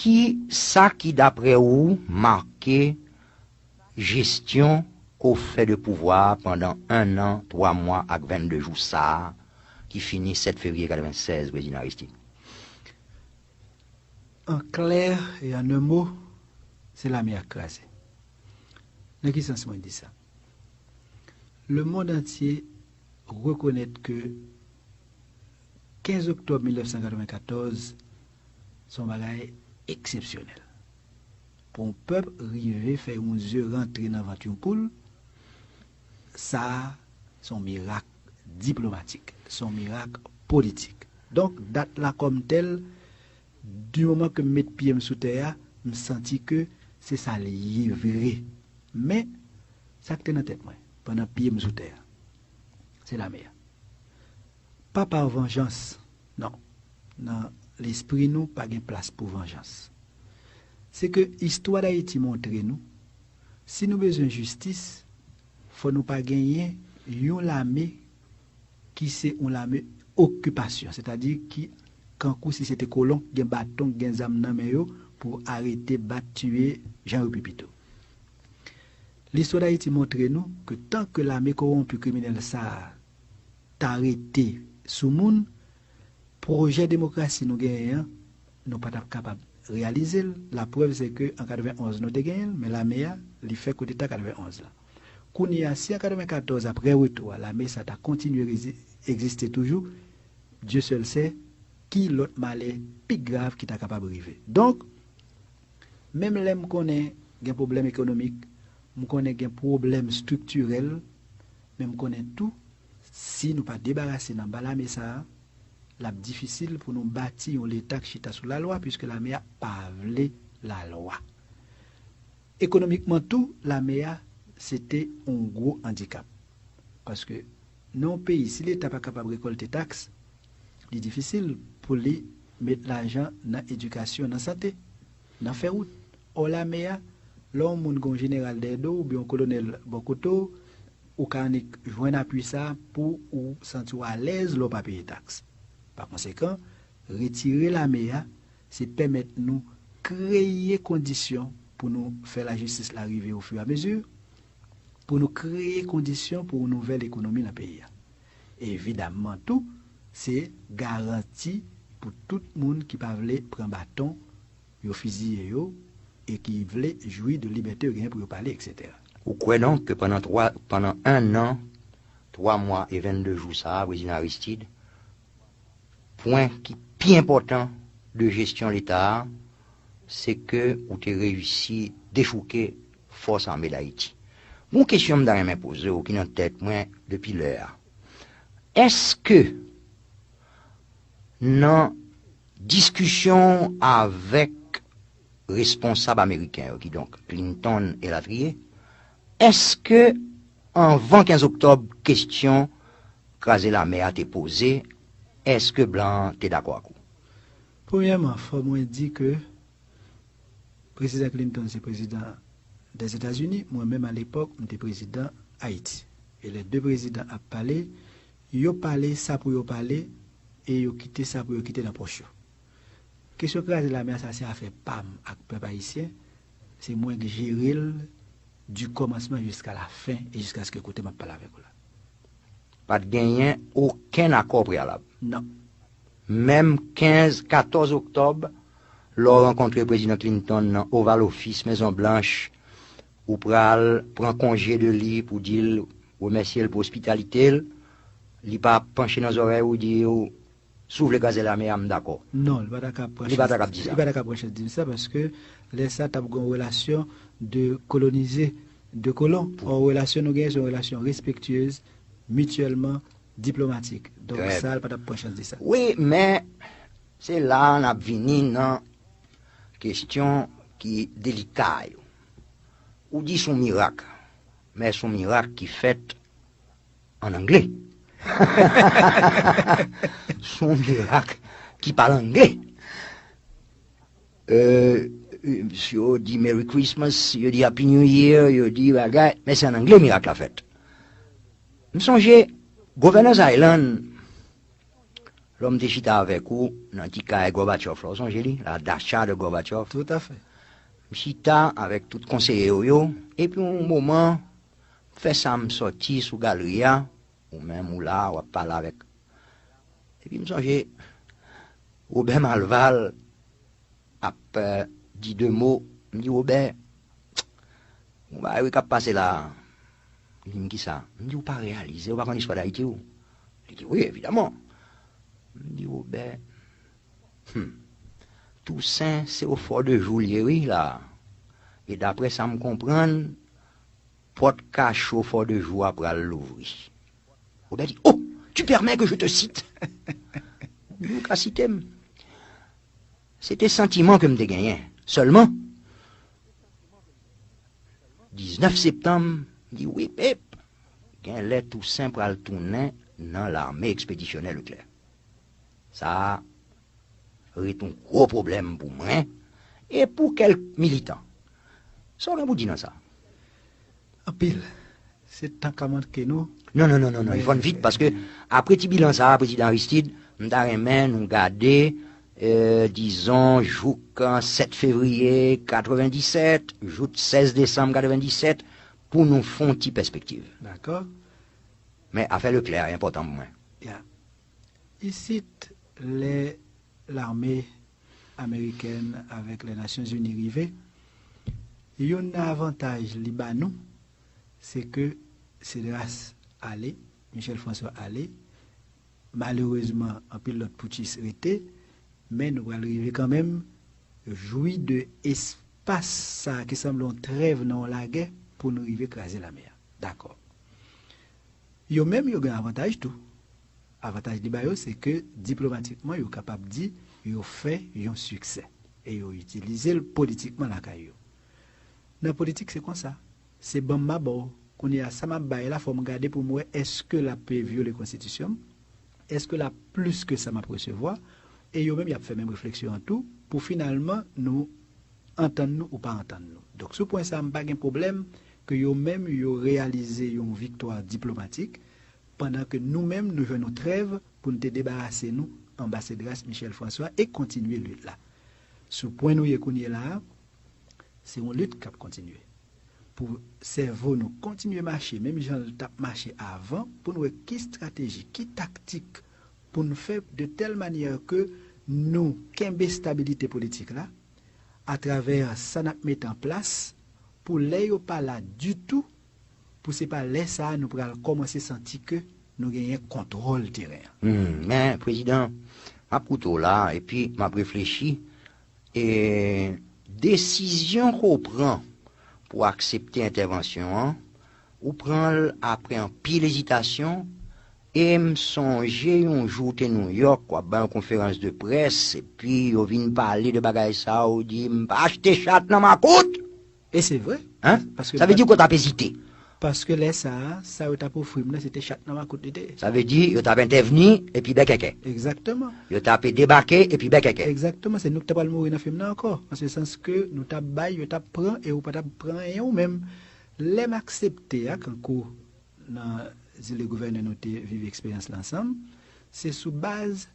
Ki sa ki dapre ou make jesyon ke w fè de pouvwa a pandan 1 an, 3 mwa ak 22 jou sa a ki fini 7 fevriye 96, Prezidan Aristide? An klè e an 1 mo, se lame a k kraze. Nan ki sans mwen di sa? Le mond antye rekonèt ke 15 oktòb 1994 se yon bagay eksepsyonèl. Pou yon pèp rive fè yon ze rantre nan vant yon poul, sa a se yon mirak diplomatik, se yon mirak politik. Donk dat la kòm tèl Du moman ke m met pye m sou tè a, m santi ke se sa l ye vre. Men, sa k te nan tèt mwen, pandan pye m sou tè a, se lame a. Pa par vanjans, non, nan lespri nou pa gen plas pou vanjans. Se ke istwa Dayiti montre nou, si nou bezwen jistis, fò nou pa genyen yon lame ki se yon lame okipasyon, sètadi ki kankou si se te kolon k gen baton, k gen zam nan men yo pou arete, bat, tiye, jan yo pi pito. Listwa Dayiti montre nou ke tan ke lame kowonpi kriminèl sa a ta rete sou moun, pwojè demokrasi nou genyen an, nou pa t ap kapab reyalize l, laprèv se ke an 91 nou te genyen l, men lame a, li fè koudeta 91 la. Kounye a, si an 94 aprè retou a lame sa ta kontinye egziste toujou, Dieu seul sait ki lòt malè pi grav ki ta kapab rive. Donk, menm lè m konnen gen pwoblèm ekonomik, m konnen gen pwoblèm striktirèl, men m konnen tou si nou pa debarase n anba lame sa a, l ap difisil pou nou bati yon leta k chita sou lalwa, puiske lame a pa vle lalwa. Ekonomikman tou, lame a se te yon gwo andikap. Paske nan yon peyi si leta pa kapab rekòlte taks, li difisil pou li met lajan nan edikasyon, nan sante, nan fè wout. Ò lame a, lè yon moun gen yon jeneral dèyè do w oubyen yon kolonèl bò kote w, ou ka annik jwenn apui sa pou ou santi w alèz lè w pa peye taks. Pakonsekan, retire lame a se pèmèt nou kreye kondisyon pou nou fè lajistis la rive o fur a mesure, pou nou kreye kondisyon pou yon nouvèl ekonomi nan peyi a. Evidamman tou, se garanti pou tout moun ki pa vle pran baton, yo fiziye yo, e ki vle jwi de libète yo genyen pou yo pale, eksetera. Ou kwè donk ke pandan 3, pandan 1 an, 3 mwa e 22 jou sa a, Prezidan Aristide, Pwen ki pi enpòtan de jesyon leta a, se ke ou te reyisi dechouke fòs ame Dayiti. Gon kesyon m ta renmen poze w ki nan tèt mwen depi lè a. Eske nan diskisyon w avèk responsab ameriken yo, kidonk Clinton elatriye, Èske anvan 15 oktòb kesyon kraze lame a te poze, èske blan an te dakò ak ou? Premyèman, fò mwen di ke Prezidan Clinton se Prezidan Dèzetazini, mwen menm alepòk m te Prezidan Ayiti. E lè 2 Prezidan ap pale, yo pale sa pou yo pale e yo kite sa pou yo kite nan pòch yo. Kesyon kraze lame a sa se afè pa m ak pèp Ayisyen, Se mwen k jere l du kòmansman jiska la fen e jiskaske kote m ap pale avèk ou la. Pa t genyen okenn akò preyalab. Non. Menm 15, 14 oktòb, lè w rankontre Prezidan Clinton nan Oval Office, Mezon Blanch, ou pral pran konje de li pou di l remèsye l pou ospitalite l, li pa panche nan zòrèy ou di w, Si w vle kraze lame a, m dakò. Non, li pa ta ka pran chans di sa. Li pa ta ka pran chans di m sa paske lè sa t ap gen yon relasyon de kolonize, de kolon. Ò relasyon nou genyen se yon relasyon respektyez, mityèlman, diplomatik. Donk sa li pa t ap pran chans di sa. Wi, men se la a n ap vini nan kestyon ki delika yo. Ou di s on mirak, men s on mirak ki fèt an angle. S on mirak ki pale angle. Yo di Merry Christmas, yo di Happy New Year, yo di bagay, men se an angle mirak la fèt. M sonje Governor's Island, lò m te chita avèk ou nan ti kay Gorbachev la, ou sonje li, la dacha de Gorbachev? Tout a fè. M chita avèk tout konseye ou yo, epi yon moman, M fè sa m sòti sou galri a, ou menm ou la wap pale avèk epi m sonje Robert Malval ap di 2 mo, m di Robert gon bagay wi kap pase la, li di m kisa, m di ou pa reyalize ou pa konn istwa dayiti ou, li di wi evidaman, m di Robert humm Toussaint se o fò de jou l ye wi la e daprè sa m konprann Pòt kacho Fò de Jou a pral louvri. Robert di, Oh! Tu permets que je te cite? Di, Ou ka site m. Se te santiman ke m te genyen. Sèlman, 19 septanm, m di, Wip ep! Genlè Tousen pral tounen nan Lame Ekspedisyonè Leklè. Sa a, ret yon gwo pwoblèm pou mwen e pou kèlk militan. Sa w gen pou di nan sa? Anpil. Se tan k ap manke nou. Non, non, non, non, non, Yvonne, vit, paske apre ti bilan sa a, Prezidan Aristide, m ta renmen nou gade, dizon, jouk 7 fevriye 97, jouk 16 desanm 97, pou nou fè yon ti pèspektiv. Dakò. Men, afè Leclerc a enpòtan pou mwen. Ya. Isit, lè lame amerikèn avèk lè Nasyon Zini rive, youn nan avantaj li ba nou, se ke Cedras ale, Michel François ale, malerezman anpil lòt poutchis rete, men nou pral rive kanmenm jwi de espas sa ki sanble yon trèv nan yon lagè pou nou rive kraze lame a. Dakò. Yo menm yo gen avantaj tou. Avantaj li ba yo se ke diplomatikman yo kapab di yo fè yon siksè e yo itilize l politikman lakay yo. Nan politik se konsa. Se ban m ma ba w. Kounye a sa m ap bay la fò m gade pou m wè èske l ape vyole konstitisyon m, èske l ap plis ke sa m ap resevwa e yo menm y ap fè menm refleksyon an tou pou finalman nou antann nou ou pa antann nou. Donk sou pwen sa a m pa gen pwoblèm ke yo menm yo reyalize yon viktwa diplomatik, pandan ke nou menm nou jwenn yon trèv pou n te debarase nou anbasedras Michèle François e kontinye lit la. Sou pwen nou ye kounyela a, se yon lit k ap kontinye pou sèvo nou kontinye mache menm jan l t ap mache avan pou n wè ki strateji, ki taktik pou n fè de tèl manyè ke nou kenbe stabilite politik la, atravè sa n ap met an plas pou lè yo pa la ditou pou se pa lè sa a nou pral kòmanse santi ke nou genyen kontwòl teren an. Hum, men Prezidan, m ap koute w la a epi m ap reflechi, e desizyon ke w pran pou w aksepte entèvansyon an, ou pran l apre anpil ezitasyon, E m sonje yon jou w te New York w ap bay yon konferans de près epi yo vin pale de bagay sa a ou di m pa achte chat nan makout! E se vre. Hein? Paske m Sa vle pat di ke w t ap ezite. Paske lè sa a, sa yo t ap ofri m nan se te chat nan makout li te ye. Sa vle di yo t ap entèvni epi bèkèkè. Egzakteman. Yo t ape debake epi bèkèkè. Egzakteman. Se nou ki t apral mouri nan fim nan ankò. An se sans ke nou t ap bay, yo t ap pran e ou pa t ap pran anyen ou menm. Lè m aksepte a kankou Nan zile gouvènè nou te viv eksperyans la ansanm. Se sou baz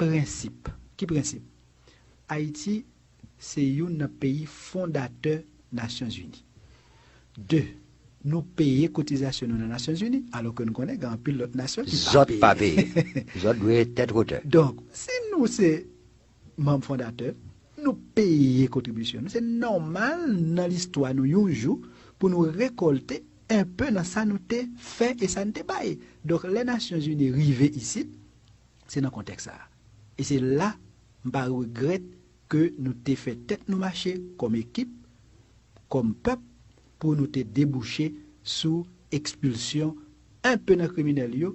prensip. Ki prensip? Ayiti se youn nan peyi fondatè Nasyonzini. De, nou peye kotizasyon nou nan Nasyonzini, alò ke nou konnen gen anpil lòt nasyon ki pa peye. Zòt pa peye. Zòt dwe tèt wotè. Donk, si nou se manb fondatè, nou peye kontribisyon nou, se nòmal nan listwa nou yon jou pou nou rekòlte enpe nan sa nou te fè e sa n te bay. Donk lè Nasyon Zini rive isit, se nan kontèks sa a. E se la m pa regrèt ke nou te fè tèt nou mache kòm ekip, kòm pèp pou nou te debouche sou ekspilsyon enpe nan kriminèl yo,